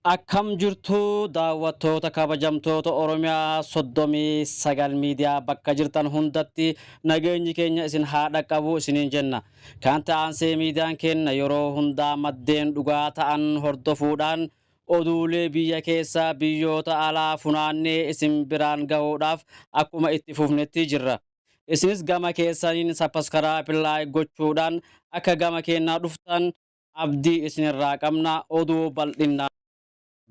Akkam jirtu daawwattoota kabajamtoota Oromiyaa 39 miidiyaa bakka jirtan hundatti nageenyi keenya isin haa dhaqqabu isiniin jenna. Kan ta'ansee miidiyaan keenya yeroo hundaa maddeen dhugaa ta'an hordofuudhaan oduulee biyya keessa biyyoota alaa funaannee isin biraan gahuudhaaf akkuma itti fufnetti jirra. Isinis gama keessaniin sappaskaraayip laayik gochuudhaan akka gama keenyaa dhuftan abdii isinirraa qabna. Oduu bal'innaan.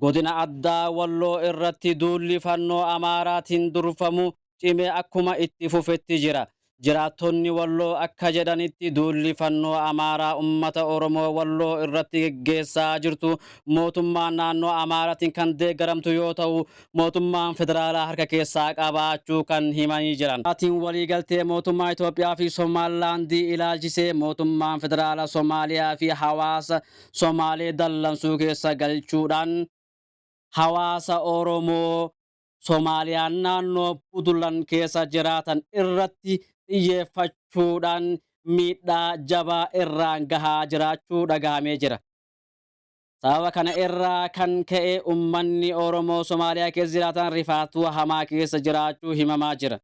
Godina Addaa Walloo irratti duulli Fannoo Amaaraatiin durfamu cimee akkuma itti fufetti jira. Jiraattonni Walloo akka jedhanitti duulli Fannoo Amaaraa ummata Oromoo Walloo irratti geggeessaa jirtu mootummaa naannoo Amaaraatiin kan deeggaramtu yoo ta'u, mootummaan federaalaa harka keessaa qabaachuu kan himanii jiran. Maatiin waliigaltee mootummaa Itoophiyaa fi Somaalilaandii ilaalchisee mootummaan federaala Somaaliyaa fi hawaasa Somaalee dallansuu keessa galchuudhaan hawaasa Oromoo Somaaliyaan naannoo Puntland keessa jiraatan irratti xiyyeeffachuudhaan miidhaa jabaa irraan gahaa jiraachuu dhagahamee jira. Sababa kana irraa kan ka'e ummanni Oromoo Somaaliyaa keessa jiraatan rifaatuu hamaa keessa jiraachuu himamaa jira.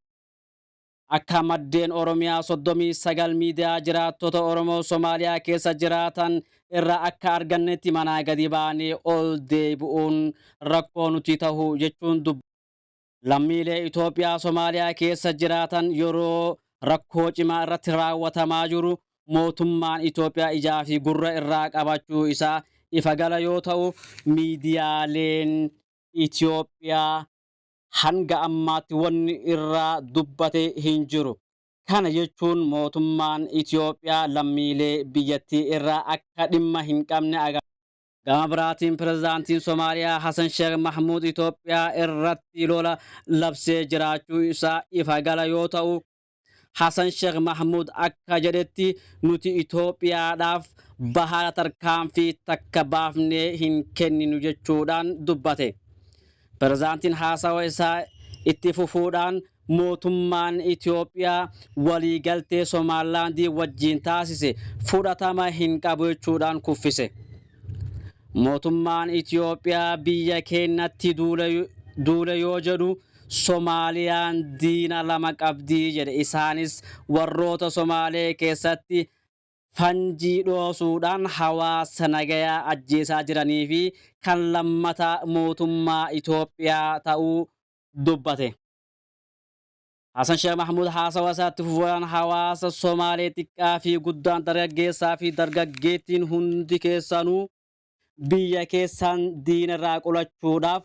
Akka maddeen Oromiyaa 39 miidiyaa jiraattota Oromoo Somaaliyaa keessa jiraatan irraa akka argannetti manaa gadi baanee ol deebi'uun rakkoo nuti tahu jechuun dubbatu. Lammiilee Itoophiyaa Somaaliyaa keessa jiraatan yeroo rakkoo cimaa irratti raawwatamaa jiru mootummaan Itoophiyaa ijaa fi gurra irraa qabachuu isaa ifa gala yoo ta'u, miidiyaaleen Itoophiyaa hanga ammaatti wanni irraa dubbate hin jiru. Kana jechuun mootummaan Itoophiyaa lammiilee biyyattii irraa akka dhimma hin qabne agarsiisa. Gama biraatiin Pirezidaantiin Somaaliyaa Hasan Sheekh Mahmuud Itoophiyaa irratti lola labsee jiraachuu isaa ifa gala yoo ta'u, Hasan Sheekh Mahmuud akka jedhetti nuti Itoophiyaadhaaf bahaara tarkaanfii takka baafnee hin kenninu jechuudhaan dubbate. Pirezidaantiin haasawa isaa itti fufuudhaan mootummaan Itoophiyaa waliigaltee Somaalilaandii wajjiin taasise fudhatama hin qabu jechuudhaan kuffise. Mootummaan Itoophiyaa biyya keenyatti duule yoo jedhu Somaaliyaan diina lama qabdi jedhe. Isaanis warroota Somaalee keessatti fanjii dhoosuudhaan hawaasa nagayaa ajjeesaa jiranii fi kan lammataa mootummaa Itoophiyaa ta'uu dubbate. Hasan Sheekh Mahmuud haasawa isaatti fufuudhaan hawaasa Somaalee xiqqaa fi guddaan dargaggeessaa fi dargaggeettiin hundi keessanuu biyya keessan diina irraa qolachuudhaaf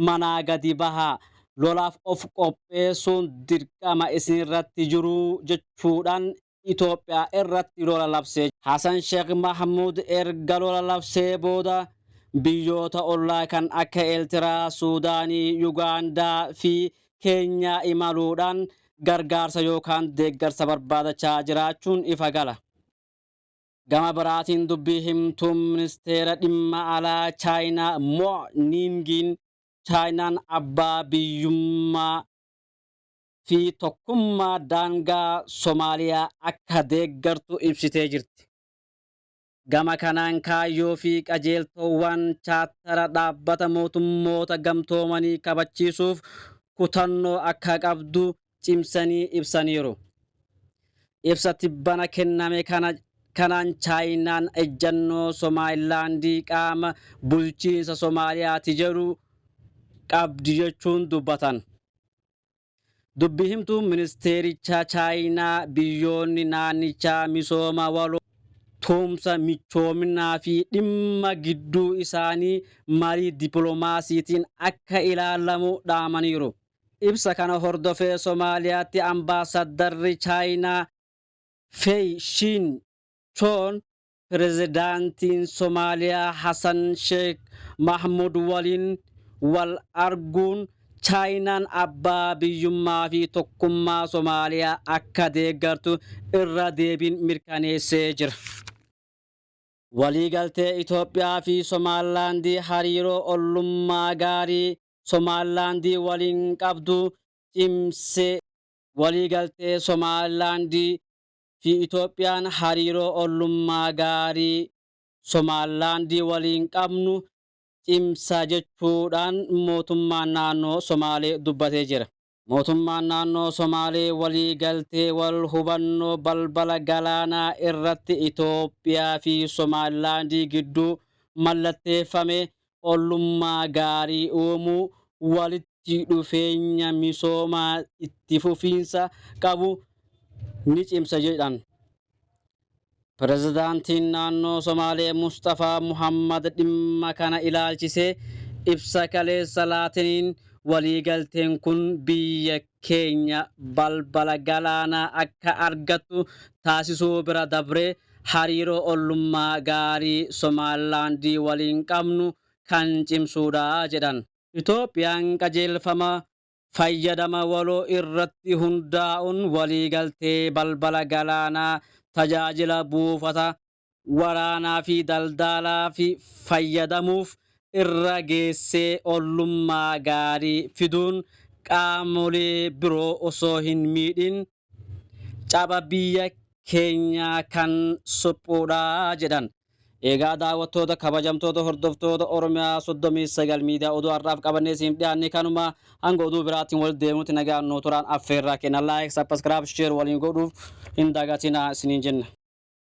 manaa gadi bahaa lolaaf of qopheessuun dirqama isinirratti jiru jechuudhaan Itoophiyaa irratti lola labsee jira. Hasan Sheek Mahmuud erga lola labsee booda biyyoota ollaa kan akka Eeltiraa, Suudaanii, Yugaandaa fi Keenyaa imaluudhaan gargaarsa yookaan deeggarsa barbaadachaa jiraachuun ifa gala. Gama biraatiin dubbii himtuun Ministeera Dhimma Alaa Chaayinaa Mo Niingiin Chaayinaan abbaa biyyummaa, fi tokkummaa daangaa Somaaliyaa akka deeggartu ibsitee jirti. Gama kanaan kaayyoo fi qajeeltoowwaan Chaattara Dhaabbata Mootummoota Gamtoomanii kabachiisuuf kutannoo akka qabdu cimsanii ibsaniiru. Ibsa tibbana kenname kana kanaan Chaayinaan ejjannoo Somaayilaandi qaama bulchiinsa Somaaliyaati jedhu qabdi jechuun dubbatan. Dubbi himtuun ministeerichaa Chaayinaa biyyoonni naannichaa misooma waloo, tumsa, michoominaa fi dhimma gidduu isaanii marii dippilomaasiitiin akka ilaalamu dhaamaniiru. Ibsa kana hordofee Somaaliyaatti Ambaasaddarri Chaayinaa Fey Shiin Choon Pirezidaantiin Somaaliyaa Hasan Sheek Mahmud waliin wal arguun Chaayinaan abbaa biyyummaa fi tokkummaa Somaaliyaa akka deeggartu irra deebiin mirkaneessee jira. Waliigaltee Itoophiyaa fi Somaalilaandii hariiroo ollummaa gaarii Somaalilaandii waliin qabdu cimse. Waliigaltee Somaalilaandii fi Itoophiyaan hariiroo ollummaa gaarii Somaalaandii waliin qabnu cimsa jechuu dhaan mootummaan naannoo Somaalee dubbatee jira. Mootummaan naannoo Somaalee walii galtee wal hubannoo balbala galaanaa irratti Itoophiyaa fi Somaalilaandii gidduu mallatteeffame ollummaa gaarii uumuu, walitti dhufeenya misoomaa itti fufiinsa qabu ni cimsa jedhan. Pirezidaantiin Naannoo Somaalee Musxafaa Muhammad dhimma kana ilaalchisee ibsa kaleessa laataniin waliigalteen kun biyya keenya balbala galaanaa akka argattu taasisuu bira dabree hariiroo ollummaa gaarii Somaalilaand waliin qabnu kan cimsuudha jedhan. Itoophiyaan qajeelfama fayyadama waloo irratti hundaa'uun waliigaltee balbala galaanaa tajaajila buufata waraanaa fi daldaalaaf fayyadamuuf irra geessee ollummaa gaarii fiduun qaamolee biroo osoo hin miidhin caba biyya keenyaa kan suphuudha jedhan. Eegaa daawwattoota kabajamtoota hordoftoota Oromiyaa 39 miidiyaa oduu har'aaf qabannee isiniif dhiyaanne kanuma hanga oduu biraatiin wal deemnutti nagaan nuu turaan affeerraa keenya like, subscribe, share waliin godhuuf hin dagatinaa isiniin jenna.